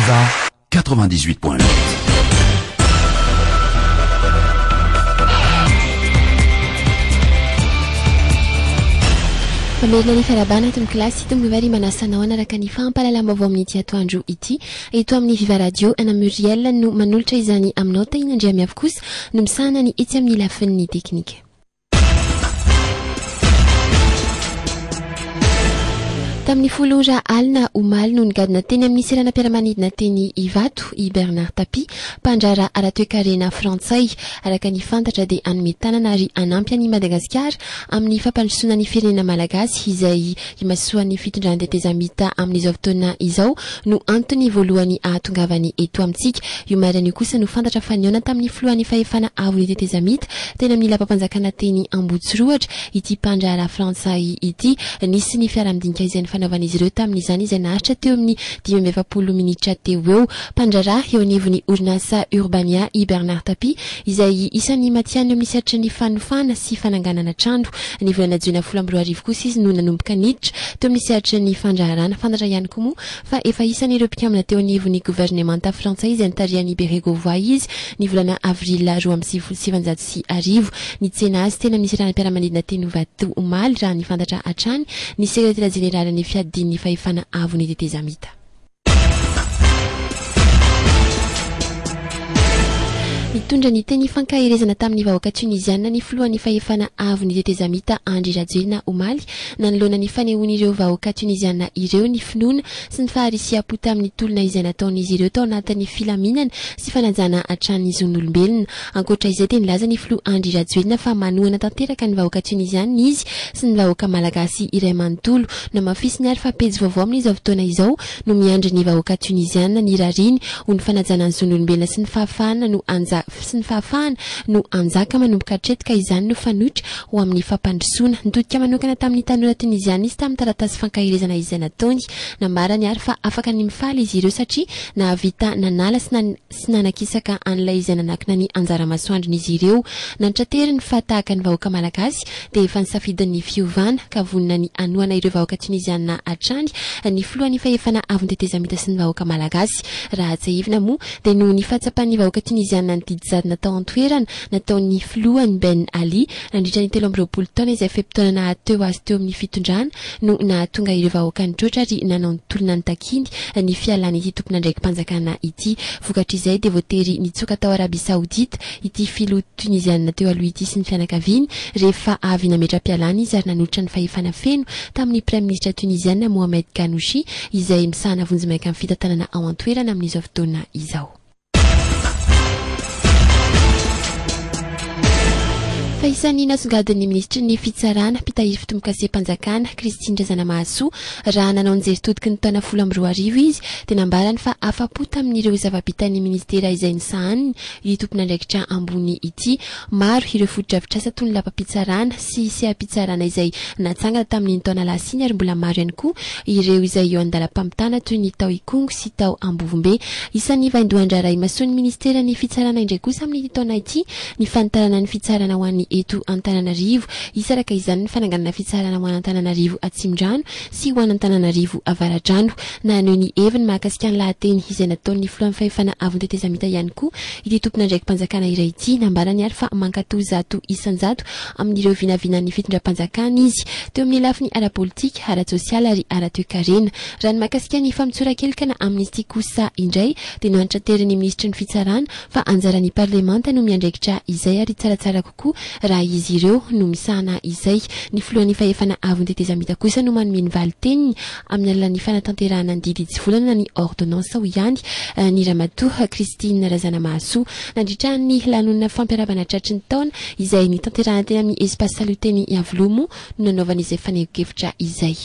Viva 98 point 8. Mamerina ny fiarahabana eto amin'ny kilasy ity Mivary ry manasa anao hanaraka ny fahampahalalam-baovao amin'ity atoandro ity. Eto amin'ny Viva Radio, Anna Muriel no manolotra izany aminao, Tahina Andriamiafy kosa no misahana ny etsy amin'ny lafin'ny teknika. Tamin'ny folo ora alina omaly no nigadona teny amin'ny seranam-piaramanidina teny Ivato i Bernard Tapie, mpandraharaha ara-toekarena frantsay. Araka ny fantatra dia hanome tanana ary hanampy an'i Madagasikara amin'ny fampandrosoana ny firenena malagasy izay Imasoan'ny fitondran-tetezamita amin'izao fotoana izao no antony voalohany ahatongavany eto amintsika. Io marina io kosa no fantatra fa nihaona tamin'ny filohan'ny fahefana avon'ny tetezamita teny amin'ny lapam-panjakana teny Ambohitsirohatra ity mpandraharaha frantsay ity. Nisy ny fiaraha-midinika izay nifanaovan'izy ireo tamin'izany izay naharitra teo amin'ny dimy amby efapolo minitra teo eo. Mpandraharaha eo anivon'ny orinasa Urbania i Bernard Tapie izay isan'ny matihanina amin'ny sehatry ny fanofana sy fananganana trano. Ny volana jiona folo amby roa arivo kosa izy no nanomboka niditra teo amin'ny sehatry ny fandraharana. Fantatra ihany koa moa fa efa isan'ireo mpikambana teo anivon'ny governemanta frantsay izay nitarihan'i Bérégovoy izy ny volana avrila roa amby sivifolo sy sivinjato sy arivo. Nitsena azy teny amin'ny seranam-piaramanidina teny Ivato omaly raha ny fantatra hatrany ny sekretera jeneralin'ny fiadian'ny fahefana avon'ny tetezamita. Nitondra ny teny ifankaherezana tamin'ny vahoaka Tuniziana ny filohan'ny fahefana avon'ny tetezamita Andry Rajoelina omaly nanoloana ny fanehoan'ireo vahoaka Tuniziana ireo ny finoana sy ny faharisiam-po tamin'ny tolona izay nataon'izy ireo tao anatin'ny filaminana sy fanajana hatrany zon'olombelona. Ankoatra izay dia nilaza ny filoha Andry Rajoelina fa manohana tanteraka ny vahoaka Tuniziana izy sy ny vahoaka Malagasy iray manontolo. Namafisiny ary fa pejy vaovao amin'izao fotoana izao no miandry ny vahoaka Tuniziana, ny rariny ho ny fanajana ny zon'olombelona sy ny fahafahana no hanja sy ny fahafahana no hanjaka manomboka hatreto ka izany no fanoitra ho amin'ny fampandrosoana. Nitodika manokana tamin'ny tanora Tuniziana izy tamin'ny taratasy fankaherezana izay nataony. Nambarany ary fa afaka ny mifaly izy ireo satria nahavita nanala sy sy nanakisaka an'ilay izay nanakina ny anjara masoandrony izy ireo. Nantrateriny fa tahaka ny vahoaka malagasy dia efa nisafidy ny fiovana ka vonona ny hanohana ireo vahoaka Tuniziana hatrany ny filohan'ny fahefana avon'ny tetezamita sy ny vahoaka malagasy. Raha tsiahivina moa dia noho ny fahatsapan'ny vahoaka Tuniziana ny didy jadona tao an-toerana nataon'ny filohany Ben Ali nandritra ny telo amby roapolo taona izay fe-potoana naha-teo azy teo amin'ny fitondrana no nahatonga ireo vahoaka nitroatra ary nanao ny tolona nitakiany ny fialan'ity tompon'andraiki-panjakana ity. Vokatr'izay dia voatery nitsoaka tao Arabia Saodita ity filoha Toniziana teo aloha ity sy ny fianakaviany rehefa avy nametra-pialana izy ary nanolotra ny fahefana feno tamin'ny Praiminisitra Toniziana Mohamed Ghannouchi izay misahana vonjimaika amin'ny fitantanana ao an-toerana amin'izao fotoana izao. Fa isan'ny nasongadin'ny minisitry ny Fitsarana, mpitahiry fitombokasem-panjakana, Christine Razanamahasoa, raha nanao ny jeritodiky ny taona folo amby roa arivo izy, dia nambarany fa afa-po tamin'ireo zava-bitan'ny minisitera izay nisahaniny ity tompon'andraikitra ambony ity. Maro ireo fotodrafitrasa toy ny lapam-pitsarana sy seha-pitsarana izay natsangana tamin'iny taona lasa iny ary mbola maro ihany koa ireo izay eo an-dalam-pamitana toy ny tao Ikongo sy tao Ambovombe. Isan'ny vaindohan-draharaha imasoan'ny Ministeran'ny Fitsarana indray kosa amin'ity taona ity ny fanitarana ny fitsarana ho an'ny eto Antananarivo. Hisaraka izany ny fananganana fitsarana ho an'Antananarivo Atsimondrano sy ho an'Antananarivo Avaradrano. Naneho ny heviny mahakasika ny lahateny izay nataon'ny Filohan'ny Fahefana Avon'ny Tetezamita ihany koa Ity tompon'andraiki-panjakana iray ity, nambarany ary fa mankatò zato isan-jato amin'ireo vinavinan'ny fitondram-panjakana izy, teo amin'ny lafiny ara-politika, ara-tsosialy ary ara-toekarena. Raha ny mahakasika ny famotsoran-kelikana Amnesty kosa indray, dia noantranterin'ny minisitry ny Fitsarana fa anjaran'ny parlemanta no miandraikitra izay ary tsaratsara koa raha izy ireo no misahana izay. Ny filohan'ny fahefana avon'ny tetezamita kosa no manome ny valin-teniny amin'ny alalan'ny fanatanterahana ny didy hitsivolana na ny ordonnance hoy ihany ny ramatoa Christine Razanamahasoa nandritra ny lanonana fampiarabana tratry ny taona izay nitanterahana teny amin'ny Espace Salut teny Iavoloha moa no nanaovana izay fanehonkevitra izay.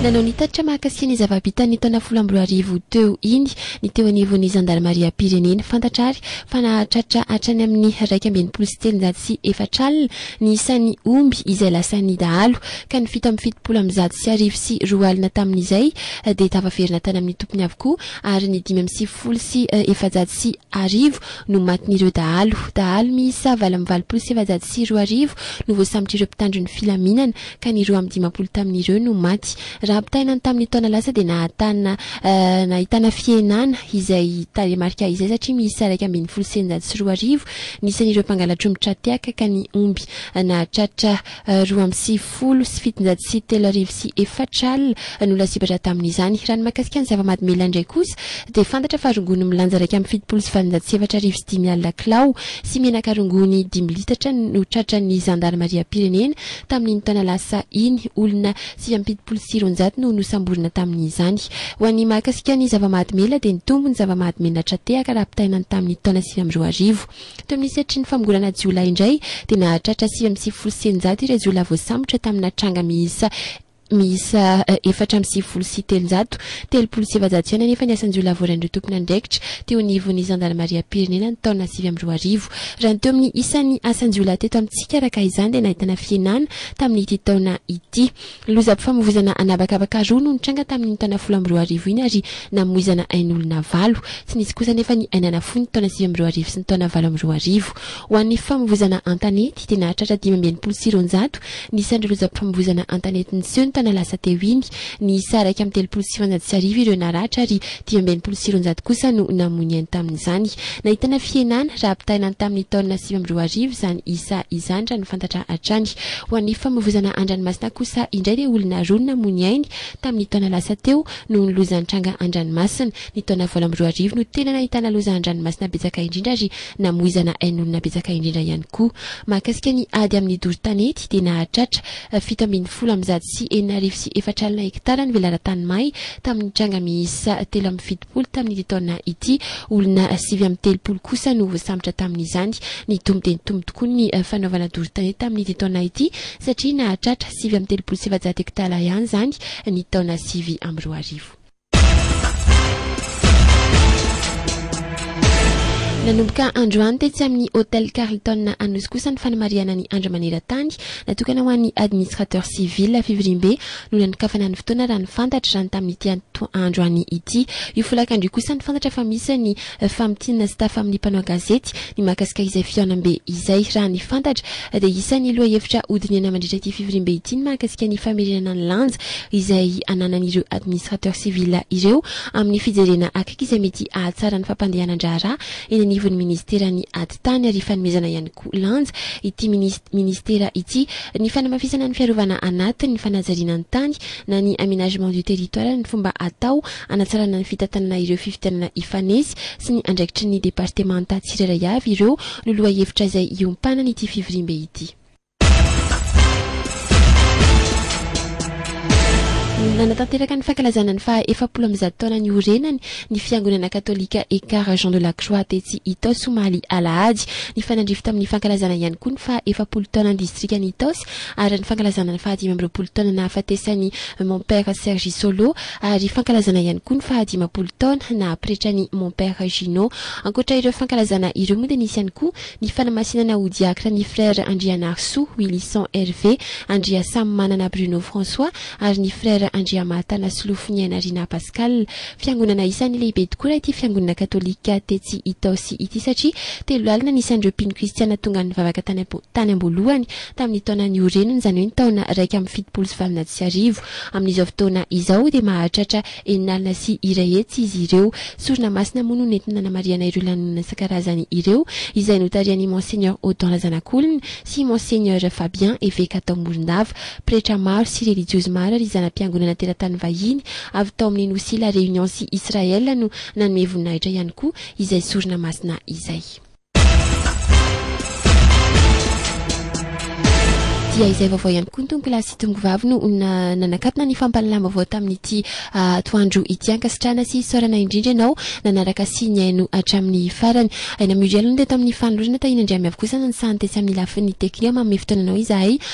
Nanao ny tatitra mahakasika ny zava-bitan'ny taona folo amby roa arivo teo iny ny teo anivon'ny zandarimariam-pirenena. Fantatra àry fa nahatratra hatrany amin'ny iraika amby enimpolo sy telonjato sy efatra alina ny isan'ny omby izay lasan'ny dahalo, ka ny fito amby fitopolo amby zato sy arivo sy roa alina tamin'izay dia tafaverina tany amin'ny tompony avokoa, ary ny dimy amby sivifolo sy efajato sy arivo no matin'ireo dahalo. Dahalo miisa valo amby valopolo sy efajato sy roa arivo no voasambotr'ireo mpitandro ny filaminana ka ny roa amby dimampolo tamin'ireo no maty. Raha ampitahaina ny tamin'ny taona lasa dia nahatana nahitana fihenana izay tarehimarika izay satria miisa iraika ambin'ny folo sy eninjato sy roa arivo ny isan'ireo mpangalatr' omby tra-tehaka ka ny omby nahatratra roa amby sivifolo sy fitonjato sy telo arivo sy efatra alina no lasibatra tamin'izany. Raha ny mahakasika ny zava-mahadomelina indray kosa dia fantatra fa rongony milanja iraika amby fitopolo sy valonjato sy efatra arivo sy dimy alina kilao sy menaka rongony dimy litatra no tratran'ny zandarimariam-pirenena tamin'iny taona lasa iny. Olona sivy amby fitopolo sy roanjato no nosamborina tamin'izany. Ho an'ny mahakasika ny zava-mahadomelina dia nitombo ny zava-mahadomelina tra-tehaka raha ampitahaina ny tamin'ny taona sivy amby roa arivo. Teo amin'ny sehatry ny famongorana jiolahy indray dia nahatratra sivy amby sivifolo sy eninjato ireo jiolahy voasambotra tamina tranga miisa miisa efatra amby sivifolo sy telonjato. Telopolo sy efajato ihany anefa ny asan-jiolahy voarain'ireo tompon'andraikitra teo anivon'ny zandarimariam-pirenena ny taona sivy amby roa arivo. Raha ny teo amin'ny isan'ny asan-jiolahy teto amintsika araka izany dia nahitana fihenana tamin'ity taona ity. Lozam-pifamoivoizana an'habakabaka roa no nitranga tamin'iny taona folo amby roa arivo iny ary namoizana ain'olona valo. Tsy nisy kosa anefa ny ain'aina fohy ny taona sivy amby roa arivo sy ny taona valo amby roa arivo. Ho an'ny fifamoivoizana an-tanety dia nahatratra dimy amby enimpolo sy roanjato ny isan'ireo lozam-pifamoivoizana an-tanety niseho ny taona lasa teo iny. Niisa iraika amby telopolo sy sivinjato sy arivo ireo naratra ary Dimy amby enimpolo sy roanjato kosa no namoy ny ainy tamin'izany. Nahitana fihenana, raha ampitahaina ny tamin'ny taona sivy amby roa arivo, izany isa izany, raha ny fantatra hatrany. Ho an'ny famovoizana an-dranomasina kosa indray dia olona roa no namoy ny ainy tamin'ny taona lasa teo noho ny loza nitranga an-dranomasina. Ny taona valo amby roa arivo no tena nahitana loza an-dranomasina betsaka indrindra ary namoizana ain'olona betsaka indrindra ihany koa. Mahakasika ny ady amin'ny doro tanety dia nahatratra fito ambin'ny folo amby zato sy enina arivo sy efatra alina hektara ny velaran-tany may tamin'ny tranga miisa telo amby fitopolo tamin'ity taona ity. Olona sivy amby telopolo kosa no voasambotra tamin'izany. Nitombo dia nitombo tokoa ny fanaovana doro-tanety tamin'ity taona ity satria nahatratra sivy amby telopolo sy efajato hektara ihany izany ny taona sivy amby roa arivo. Nanomboka androany tetsy amin'ny Hotel Carlton Anosy kosa ny fanamarihana ny Andro maneran-tany natokana ho an'ny Administrateur Civil. Fivoriambe no nanokafana ny fotoana raha ny fantatra, izany tamin'ity atoandro any ity. Io folakandro io kosa ny fantatra fa misy ny famintinina sy tafa amin'ny mpanao gazety ny mahakasika izay fihaonambe izay. Raha ny fantatra dia isan'ny lohahevitra hodinihana mandritra ity fivoriambe ity ny mahakasika ny famerenana ny lanja izay ananan'ireo administrateurs civils ireo amin'ny fijerena akaiky izay mety hahatsara ny fampandehanan-draharaha eny anivon'ny minisiteran'ny Atitany ary fanomezana ihany koa lanja ity minisitera ity ny fanamafisana ny fiarovana anatiny ny fanajariana ny tany na ny aménagement du territoire ny fomba atao Hanatsarana ny fitantanana ireo fifidianana hifanesy sy ny andraikitry ny departemanta tsirairay avy ireo no lohahevitra izay hiompanan'ity fivoriambe ity. Nanatanteraka ny fankalazana ny faha efapolo amby zato taona niorenany ny fiangonana katolika Ekar Jean de la Croix tetsy Itaosy omaly alahady. Nifanandrify tamin'ny fankalazana ihany koa ny faha efapolo taonan'ny distrikan'i Itaosy ary ny fankalazana ny fahadimy amby roapolo taona nahafatesan'i Mon Père Serge Solo ary fankalazana ihany koa ny fahadimampolo taona naha pretran'i Mon Père Gino. Ankoatra ireo fankalazana ireo moa dia nisy ihany koa ny fanamasinana ho diakra ny Frère Andrianarisoa Wilison Hervé Andriasamimanana Bruno François ary ny Frère Andriamahatana Solofoniainarina Pascal. Fiangonana isan'ny lehibe tokoa raha ity fiangonana katolika tetsy Itaosy ity satria telo lalina ny isan'ireo mpino kristiana tonga nivavaka tany tany am-boalohany tamin'ny taona nioreniny, izany hoe ny taona iraika amby fitopolo sy valonjato sy arivo. Amin'izao fotoana izao dia mahatratra enina alina sy iray hetsy izy ireo. Sorona masina moa no nentina nanamarihana ireo lanonana isan-karazany ireo izay notarihan'i Monseigneur Odon Razanakolona sy Monseigneur Fabien, eveka tao Morondava. Pretra maro sy relijiozy maro ary zana-piangonana teratany vahiny avy tao amin'ny Nosy La Réunion sy Israël no nanome voninahitra ihany koa izay sorona masina izay. Dia izay vaovao ihany koa ny tonokolahy sy tongovavy no nanakatona ny fampahalalam-baovao tamin'ity atoandro ity. Ankasitrahana sy isaorana indrindra ianao nanaraka sy nihaino hatramin'ny farany. Aina Muriel no teto amin'ny fanolorana, Tahiana Andriamiavo kosa no nisahan-tetsy amin'ny lafiny teknika. Manome fotoananao izahay